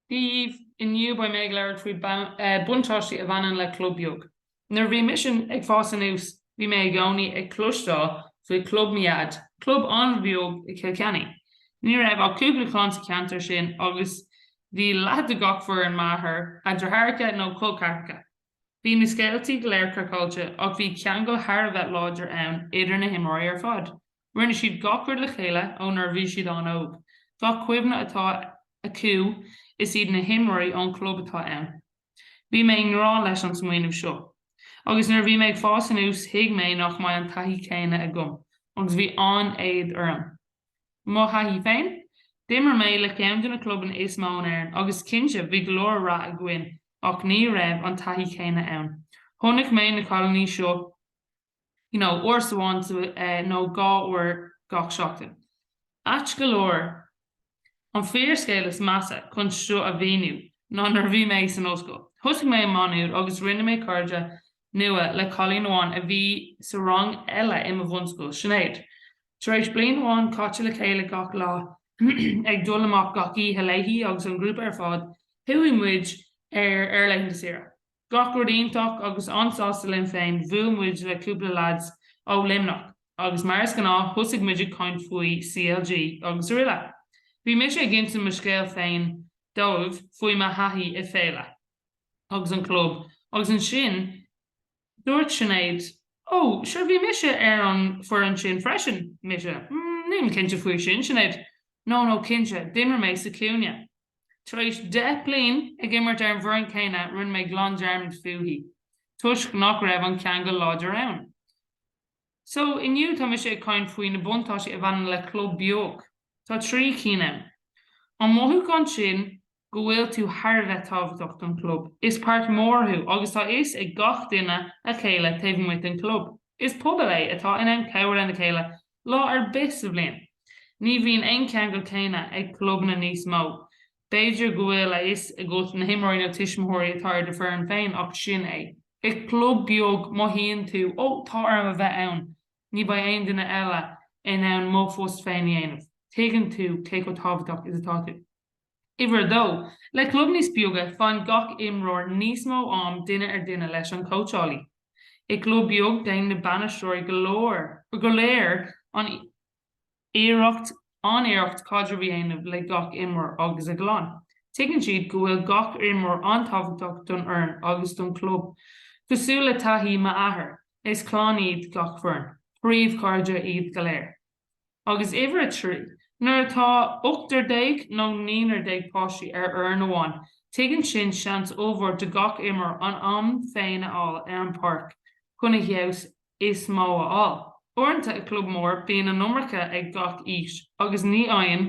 Dia daoibh, inniu beidh mé ag labhairt faoi buntáistí a bhaineann le club beag. Nuair a bhí mise ag fás anuas bhí mé i gcónaí ag cloisteáil faoi Chlub mo Dhaid, club an-bheag i Cill Ceannaigh. Ní raibh ach cúpla clann sa cheantar sin agus bhí leath de gach foireann m'athar a dheartháireacha nó col ceathracha. Bhí na scéaltaí go léir craiceáilte ach bhí ceangal thar a bheith láidir ann idir na himreoirí ar fad. Rinne siad gach rud le chéile ó nuair a bhí siad an-óg. Gach cuimhne atá acu is iad na himreoirí ón chlub atá ann. Bhí mé i ngrá leis an smaoineamh seo. Agus nuair a bhí mé ag fás anuas thuig mé nach mbeidh an taithí céanna agam agus bhí an-éad orm. Mo thaithí féin? D'imir mé le ceann de na clubanna is mó in Éirinn agus cinnte bhí go leor rath againn ach ní raibh an taithí céanna ann. Chonaic mé na cailíní seo you know uair amháin nó dhá uair gach seachtain. Ait go leor, an fíor scéal is measa chun seo a mhíniú ná nuair a bhí mé san ollscoil, thosaigh mé i Má Nuad agus rinne mé cairde nua le cailín amháin a bhí sa rang eile i mo bhunscoil, Sinéad. Tar éis bliain amháin caite le chéile gach lá, ag dul amach gach oíche léi agus an grúpa ar fad, chuaigh muid ar ar laethanta saoire. Gach rud iontach agus an-sásta linn féin, bhuail muid le cúpla leaid ó Luimneach agus mar is gnáth thosaigh muid ag caint faoi CLG agus aroile. Bhí mise ag insint mo scéal féin dóibh faoi mo thaithí i Féile agus an club agus ansin dúirt Sinéad Ó sure bhí mise ar an foireann sin freisin. Mise, Nílim cinnte faoi sin, Sinéad, No, no cinnte, d'imir mé sa cúinne. Tar éis deich bliain ag imirt ar an bhfoireann céanna rinne mé glan dearmad fúithi toisc nach raibh an ceangal láidir ann. So, inniu tá mise ag caint faoi na buntáistí a bhaineann le club beag. Tá trí cinn ann. An mothúchán sin go bhfuil tú thar a bheith tábhachtach don chlub, is páirt mhór thú agus tá a fhios ag gach duine a chéile taobh amuigh den chlub. Is pobal é atá in ann cabhrú lena chéile lá ar bith sa bhliain. Ní bhíonn an ceangal céanna ag clubanna níos mó. B'fhéidir go bhfuil a fhios agat na himreoirí nó tuismitheoirí atá ar do foireann féin ach sin é. I gclub beag mothaíonn tú 'Ó, tá orm a bheith ann, ní bheidh aon duine eile in ann mo phost féin a dhéanamh'. Tuigeann tú cé chomh tábhachtach is atá tú. Uimhir a dó, le club níos beaga faigheann gach imreoir níos mó am duine ar duine leis an cóitseálaí. I gclub beag déanann na bainisteoirí go, go léir an iarracht, an-iarracht caidreamh a dhéanamh le gach imreoir agus a gclann. Tuigeann siad go bhfuil gach imreoir an-tábhachtach don fhoireann agus don chlub. Cosúil le taithí m'athair, is clann iad gach foireann, príomhchairde iad go léir. Agus uimhir a trí, nuair atá ochtar déag nó naonúr déag páistí ar fhoireann amháin, tugann sin seans ollmhór do gach imreoir an am féin a fháil ar an bpáirc chun a fheabhas is mó a fháil. Uaireanta i gclub mór bíonn an iomarca ag gach aois agus ní fhaigheann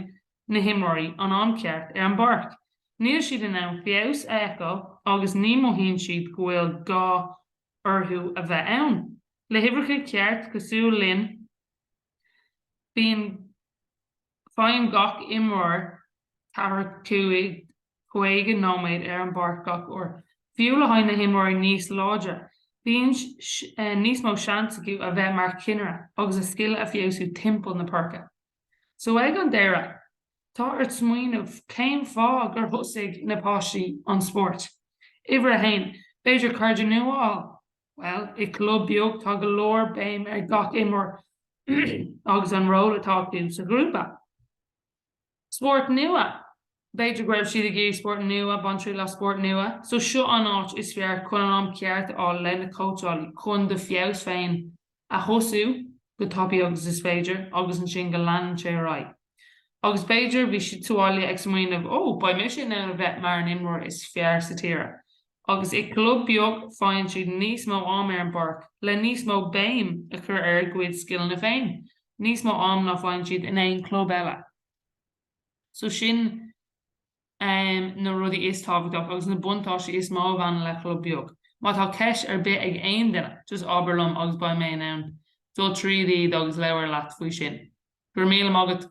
na himreoirí an am ceart ar an bpáirc. Níl siad in ann feabhas a fheiceáil agus ní mhothaíonn siad go bhfuil gá orthu a bheith ann. Le huimhreacha ceart cosúil linn bíonn faigheann gach imreoir ceathracha cúig caoga nóiméad ar an bpáirc gach uair. Fiú le haghaidh na himreoirí níos láidre, bíonn níos mó seans acu a bheith mar cinnire agus a scileanna a fheabhsú timpeall na páirce. So ag an deireadh, tá ort smaoineamh cén fáth gur thosaigh na páistí an spórt. Uimhir a haon, b'fhéidir cairde nua a fháil. Bhuel, i gclub beag tá go leor béim ar gach imreoir agus an ról atá acu sa ghrúpa. Spórt nua, b'fhéidir go raibh siad ag iarraidh spórt nua, bain triail as spórt nua. So seo an áit is fearr chun an am ceart a fháil le na cóitseálaí chun do fheabhas féin a thosú go tapaidh agus is féidir agus ansin go leanann sé ar aghaidh agus b'fhéidir bhí siad sa bhaile ag smaoineamh ó beidh mise in ann a bheith mar an imreoir is fearr sa tíre agus i gclub beag faigheann siad níos mó am ar an bpáirc le níos mó béim a chur ar a gcuid scileanna féin níos mó am ná faigheann siad in aon club eile so sin na rudaí is tábhachtach agus na buntáistí is mó a bhaineann le club beag. Má tá ceist ar bith ag aon duine, just abair liom agus beidh mé in ann dul tríd iad agus labhair leat faoi sin. Go raibh míle maith agat!